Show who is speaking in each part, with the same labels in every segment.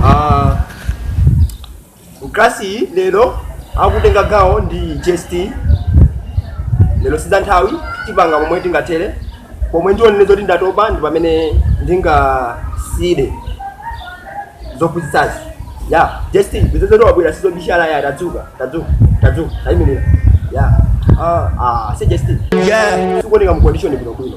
Speaker 1: Ah, mu klasi iyi lero akutenga gawo ndi JST lero si za nthawi tipanga momwe tingathere pomwe ndionene zoti ndatopa ndi pamene ndingasiyire zophunzitsazi ya JST busy zedi wabwera sizobisala ya tadzuka tadzuka tadzuka tayimirira ya ah, ah, si JST Yeah. sikuoneka mu condition bwinobwino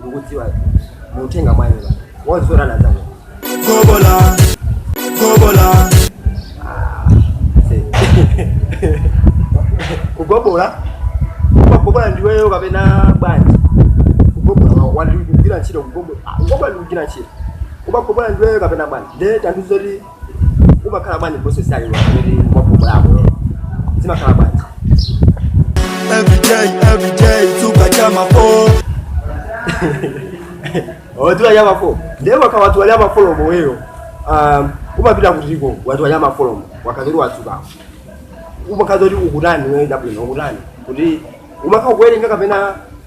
Speaker 1: ndikudziwa mutenga mwayi wozolowana nzako
Speaker 2: Zobola, zobola,
Speaker 1: kugobola kugobola ndiweyo kapena bwanji kugobola ndi kugwira ntchito kugobola kugobola ndi kugwira ntchito kugobola ndiweyo kapena bwanji nde tandiuza kuti umakhala bwanji process yake pamene mwagobolapo zimakhala bwanji Every day,
Speaker 2: every day, suka chama po.
Speaker 1: watiwa ya mafo ndiye waka watu wali amafolomo weyo um, umapita kutiko watu wali amafolomo wakazoli watsuka umakadziwa zoti ukutani woyenda bwino ukutani kuti umakha kuwerenga kapena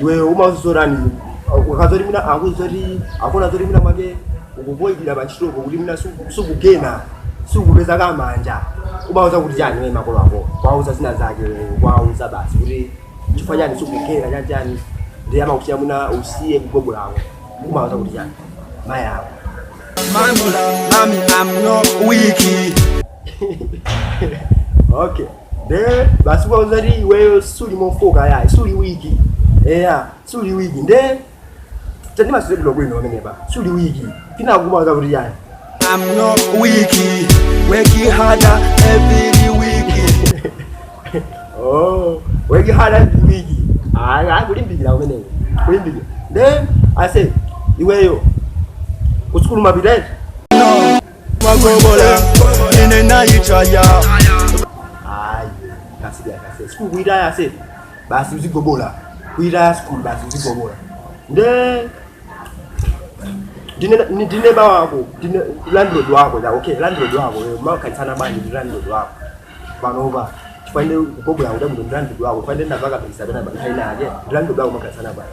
Speaker 1: iwe umazizorani ukazoti mina akuzoti akuna zoti mina mwake ukuvoidira pa ntchitopo kuti mina suku- sukugena sukupeza kamanja umauza kuti chani we makolo ako kwauza zina zake kwauza basi kuti chifukwa chani sukugena chani chani ndiye amakuti mwina usiye kugobola kwako umauza kuti chani mayi ako Mami, mami,
Speaker 2: I'm not weak.
Speaker 1: okay nde basi uwauza kuti iweyo suli mofoka ya suli weak eya suli weak nde tandimasulira bwino pamenepa suli weak ukuwauza kuti chani I'm not
Speaker 2: weak, working harder every week.
Speaker 1: Oh, working harder week. Ah, ah, kulimbikira umeneyo. Kulimbikira. Then I say, iweyo. Kusukulu umapita eti.
Speaker 2: magobola ine nayitaya
Speaker 1: hayi kasiya kase sukulu kuyitaya se basi uzigobola kuyitaya sukulu basi uzigobola nde ndine ni- ndine ba wako ndine landlord wako la okay landlord wako eh, umakhalitsana bwanji ndi landlord wako panopa tifanire kugobola kuti kuti ndi landlord wako tifanire ndavaka pesa pena panthaina yake ndi landlord wako umakhalitsana bwanji